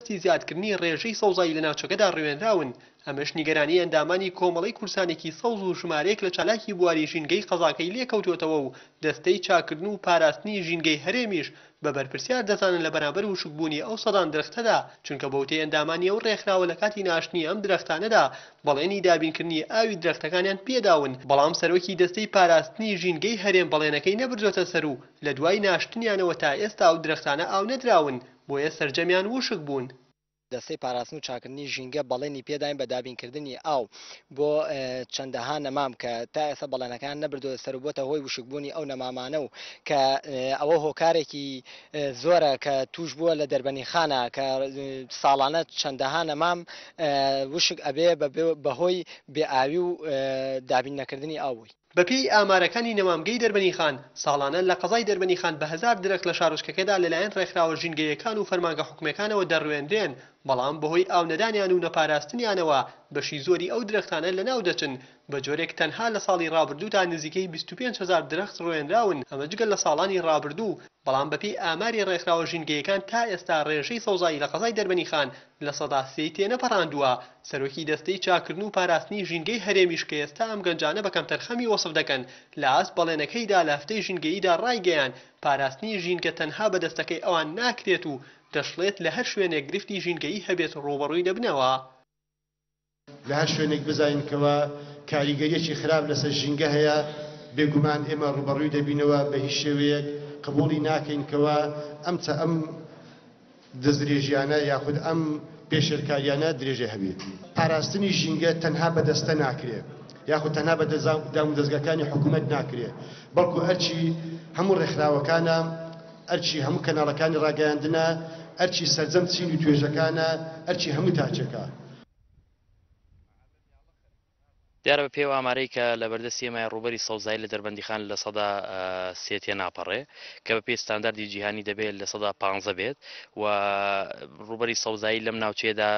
دەستی زیادکردنی ڕێژەی سەوزایی لە ناوچەکەدا ڕوێنراون، ئەمەش نیگەرانی ئەندامانی کۆمەڵەی کورسانێکی سەوز و ژمارەیەک لە چالاکی بواری ژینگەی قەزاکەی لێکەوتووەتەوە و دەستەی چاککردن و پاراستنی ژینگەی هەرێمیش بە بەرپرسیار دەزانن لە بەرامبەر وشکبوونی ئەو سەدان درەختەدا، چونکە بەوتەی ئەندامانی ئەو ڕێکخراوە لە کاتی ناشتنی ئەم درەختانەدا بەڵێنی دابینکردنی ئاوی درەختەکانیان پێداون، بەڵام سەرۆکی دەستەی پاراستنی ژینگەی هەرێم بەڵێنەکەی نەبردۆتە سەر و لە دوای ناشتنیانەوە تا ئێستا ئەو درەختانە ئاو نەدراون. بۆیە سەرجەمیان ووشک بوون. دەستەی پاراستن و چاککردنی ژینگە بەڵێنی پێداین بە دابینکردنی ئاو بۆ چەندەها نەمام کە تا ئێستا بەڵێنەکەیان نەبردووەتە سەر و بۆتە هۆی ووشکبوونی ئەو نەمامانە و کە ئەوە هۆکارێکی زۆرە کە تووشبووە لە دەربەنیخانە کە ساڵانە چەندەها نەمام ووشک ئەبێ بە هۆی بێ ئاوی و دابین نەکردنی ئاو بووی. بەپێی ئامارەکانی نەمامگەی دەربەنیخان، ساڵانە لە قەزای دەربەنیخان بە هەزار درەخت لە شارۆچکەکەدا لەلایەن ڕێکخراوە ژینگەییەکان و فەرمانگە حکومییەکانەوە دەڕوێنرێن، بەڵام بەهۆی ئاو نەدانیان و نەپاراستنیانەوە بەشی زۆری ئەو درەختانە لەناو دەچن، بەجۆرێک تەنها لە ساڵی ڕابردوودا نزیکەی بیست و پێنج هەزار درەخت ڕوێنراون، ئەمە جگە لە ساڵانی ڕابردوو، بەڵام بەپێی ئاماری ڕێکخراوە ژینگەییەکان تا ئێستا ڕێژەی سەوزایی لە قەزای دەربەنیخان لە سەدا سێی تێنەپەڕاندووە، سەرۆکی دەستەی چاککردن و پاراستنی ژینگەی هەرێمیش کە ئێستا ئەم گەنجانە بە کەمتەرخەمی وەسف دەکەن، لە ئاست بەڵێنەکەیدا لە هەفتەی ژینگەییدا ڕایگەیاند، پاراستنی ژینگە تەنها بە دەستەکەی ئەوان ناکرێت و دەشڵێت لە هەر شوێنێک گرفتی ژینگەیی هەبێت ڕووبەڕووی دەبنەوە. لە هەر شوێنێک بزانین کەوا کاریگەریەکی خراپ لەسەر ژینگە هەیە بێگومان ئێمە ڕووبەڕووی دەبینەوە بە هیچ شێوەیەک قبوڵی ناکەین کەوا ئەم چە ئەم دەستدرێژیانە یاخود ئەم پێشێلکاریانە درێژە هەبێت. پاراستنی ژینگە تەنها بە دەستە ناکرێ یاخود تەنها بە دامودەزگاکانی حکومەت ناکرێ بەڵکو ئەرکی هەموو ڕێکخراوەکانە ئەرکی هەموو کەناڵەکانی ڕاگەیاندنە ئەرکی سەرجەم چین و توێژەکانە ئەرکی هەموو تاکێکە. دیارە بەپێی ئەو ئامارەی کە لەبەردەستی ئێمەیە ڕووبەری سەوزایی لە دەربەندیخان لە سەدا سێ تێناپەڕێ کە بەپێی ستانداردی جیهانی دەبێت لە سەدا پانزە بێت و ڕووبەری سەوزایی لەم ناوچەیەدا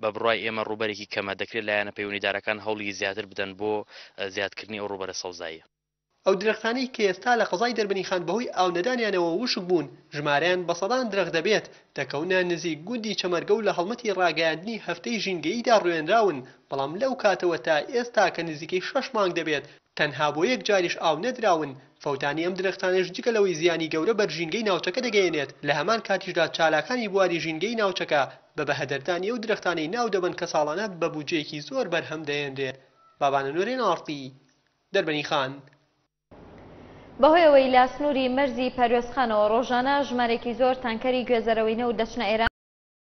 بە بڕای ئێمە ڕووبەرێکی کەمە دەکرێت لایەنە پەیوەندیدارەکان هەوڵی زیاتر بدەن بۆ زیادکردنی ئەو ڕووبەرە سەوزاییە ئەو درەختانەی کە ئێستا لە قەزای دەربەنیخان بەهۆی ئاو نەدانیانەوە وشک بوون، ژمارەیان بە سەدان درەخت دەبێت، دەکەونە نزیک گوندی چەمەرگە و لە هەڵمەتی ڕاگەیاندنی هەفتەی ژینگەییدا ڕوێنراون، بەڵام لەو کاتەوە تا ئێستا کە نزیکەی شەش مانگ دەبێت تەنها بۆ یەک جاریش ئاو نەدراون، فەوتانی ئەم درەختانەش جگە لەوەی زیانی گەورە بەر ژینگەی ناوچەکە دەگەیەنێت، لە هەمان کاتیشدا چالاکانی بواری ژینگەی ناوچەکە بە بەهەدەردانی ئەو درەختانەی ناودەبەن کە ساڵانە بە بودجەیەکی زۆر بەرهەم دەهێنرێت بابانەنۆ رێناڵتی، دەربەنی خان. بەهۆی ئەوەی لە سنووری مەرزی پەروێزخانەوە ڕۆژانە ژمارەیەکی زۆر تانکەری گوێزەرەوەینەوت دەچنە ئێران،